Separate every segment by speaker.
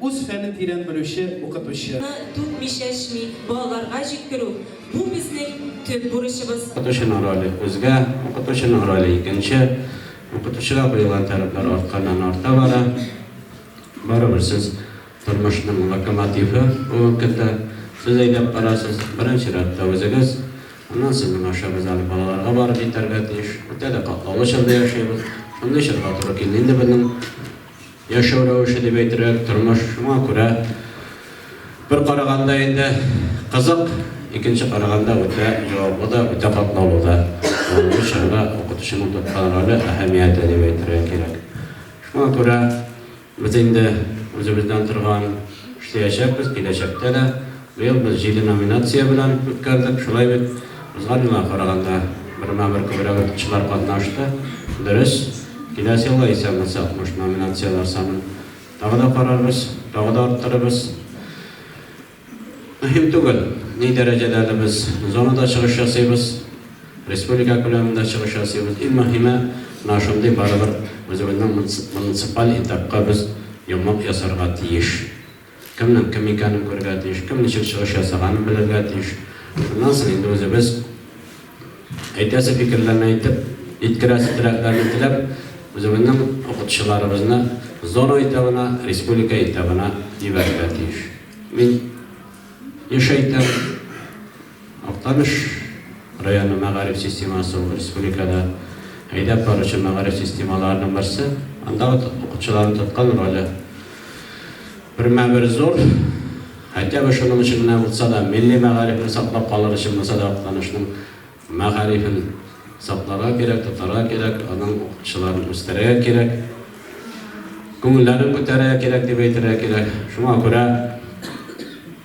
Speaker 1: Үз фәнен тирән белүче укытучы. Ны түкми-чәчми балаларга җиткерү, бу
Speaker 2: безнең төп бурычыбыз. Укытучының роле, күзгә, укытучының роле, икенче. Укытучыга куелган таләпләр артканнан-арта бара. Барыбер сез, тормышның локомотивы бүгенге көндә. Сез әйдәп барасыз, беренче рәттә үзегез. Аннан сезнең аша без әле балаларга барып җитәргә тиеш. Үтә дә катлаулы чорда яшибез. Шундый чорга туры килде инде безнең Яшәү рәвеше дип әйтерлек, тормыш шуңа күрә. Бер караганда инде кызык, икенче караганда үтә җаваплы да, үтә катлаулы да. Бүгенге чорда укытучының тоткан роле, әһәмияте дип әйтергә кирәк. Шуңа күрә без инде үзебездән торган эшләячәкбез, киләчәктә дә. Быел без җиде номинация белән үткәрдек. Шулай бит? Узган елга караганда бермә-бер күбрәк укытучылар катнашты. Дөрес, киләсе елга исән булсак, буш номинацияләр санын тагы да карарбыз, тагы да арттырырбыз. Мөһим түгел, ни дәрәҗәдә әле без зонада чыгыш ясыйбыз, республика күләмендә чыгыш ясыйбыз. Иң мөһиме, менә шундый барыбер үзебезнең муниципаль этапка без йомык ясарга тиеш. Кемнең кем икәнен күрергә тиеш, кем ничек чыгыш ясаганын белергә тиеш. Шуннан соң инде үзебез әйтәсе фикерләрне әйтеп, җиткерәсе теләкләрне теләп, үзебезнең укытучыларыбызны зона этабына, республика этабына җибәрергә тиеш. Мин еш әйтәм. Актаныш районы мәгариф системасы ул республикада әйдәп баручы мәгариф системаларының берсе. Анда укытучыларның тоткан роле бермә-бер зур. Хәтта бер шуның өчен генә булса да, милли мәгарифне саклап калыр өчен булса да Актанышның мәгарифен сакларга кирәк, тотарга кирәк, аның укытучыларын үстерергә кирәк, күңелләрен күтәрергә кирәк дип әйтергә кирәк. Шуңа күрә.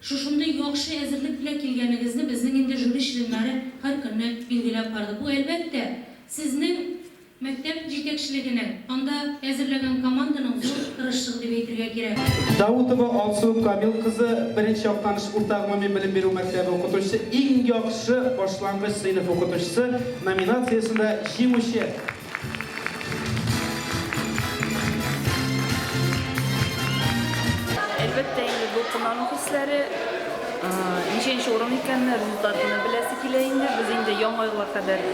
Speaker 3: Шушындый яхшы әзерлек белән килгәнегезне безнең инде жюри членнары һәр көнне билгеләп барды. Бу, әлбәттә, сезнең мәктәп җитәкчелегенең, анда әзерләгән команданың зур тырышчыгы дип әйтергә кирәк. Даутова Алсу
Speaker 4: Камил кызы, беренче Актаныш урта гомуми белем бирү мәктәбе укытучысы, иң яхшы башлангыч сыйныф укытучысы номинациясендә җиңүче.
Speaker 5: Әлбәттә, инде дулкынлану хисләре ничәнче урын икәнне, результатны беләсе килә инде. Без инде яңа елга кадәр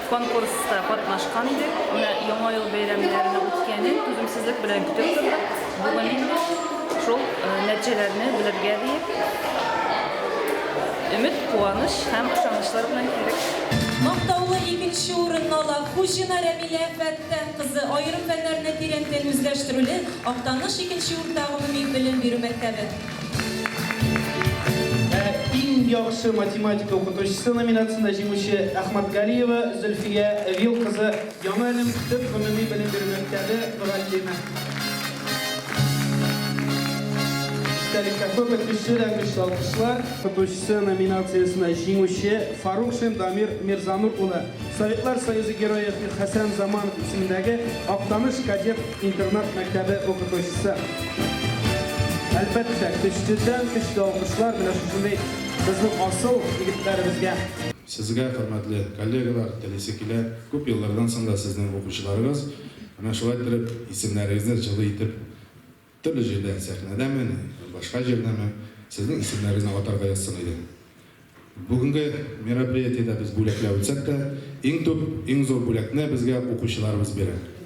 Speaker 5: конкурста катнашкан идек. Менә яңа ел бәйрәмнәренә үткәнен түземсезлек белән көтеп тордык. Бүген шул нәтиҗәләрне белергә диеп, өмет, куаныч һәм ышанычлар белән килдек. Мактаулы
Speaker 1: икенче урынны ала Хуҗина Рәмилә Фәттән кызы, аерым фәннәрне тирәнтен үзләштерүле Актаныш икенче урта гомуми белем бирү мәктәбе.
Speaker 4: Ә иң яхшы математика укытучысы номинациясендә җиңүче Әхмәтгалиева Зөлфия Вил кызы, Яңа Әлем төп гомуми белем бирү мәктәбе мөгаллиме. Истәлеккә күп укучы да көчле алкышлар. Укытучысы номинациясенә җиңүче Фарукшин Дамир Мирзанур улы, Советлар Союзы Герое Хәсән Заманов исемендәге Актаныш кадет интернат мәктәбе укытучысы. Әлбәттә, көчледән-көчле алкышлар менә шушындый безнең асыл егетләребезгә. Сезгә,
Speaker 6: хөрмәтле коллегалар, телисе килә, күп еллардан соң да сезнең укучыларыгыз, менә шулай иттереп, исемнәрегезне җылы итеп, төрле җирдә, сәхнәдәме, башка җирдәме, сезнең исемнәрегезне атарга язсын иде. Бүгенге мероприятиедә без бүләкләр үтсәк тә, иң төп, иң зур бүләкне безгә укучыларыбыз бирә.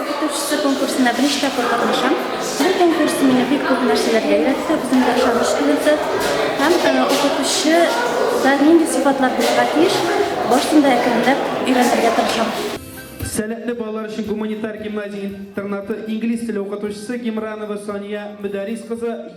Speaker 7: Укытучысы конкурсында беренче тапкыр катнашам. Бу конкурс мине бик күп нәрсәләргә өйрәтте, үземгә ышаныч куйды. Һәм укытучы да нинди сыйфатлар булырга тиеш, башында әкренләп өйрәнергә тырышам. Сәләтле
Speaker 4: балалар өчен гуманитар гимназия интернаты инглиз теле укытучысы Гимранова Сания Мөдәрис кызы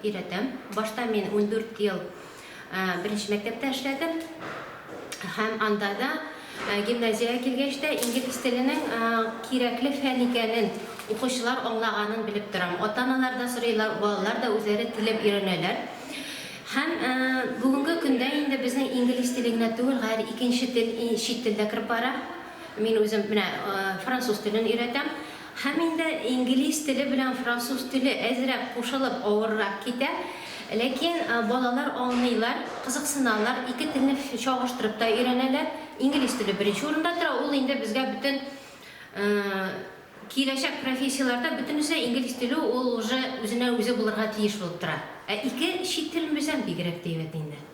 Speaker 8: өйрәтәм. Башта мин ундүрт ел беренче мәктәптә эшләдем һәм анда да, гимназиягә килгәч тә, инглиз теленең кирәкле фән икәнен, укучылар аңлаганын белеп торам. Ата-аналар да сорыйлар, балалар да үзләре теләп өйрәнәләр. Һәм бүгенге көндә инде безнең инглиз теле генә түгел, һәр икенче тел, чит тел дә кереп бара. Мин үзем менә француз телен өйрәтәм. Һәм инде инглиз теле белән француз теле әзрәк кушылып авыррак китә. Ләкин балалар аңлыйлар, кызыксыналар, ике телне чагыштырып та өйрәнәләр. Инглиз теле беренче урында тора, ул инде безгә бөтен киләчәк профессияләрдә бөтенесе инглиз теле ул уже үзенә үзе булырга тиеш булып тора. Ә ике чит телен белсәң бигрәк тә әйбәт инде.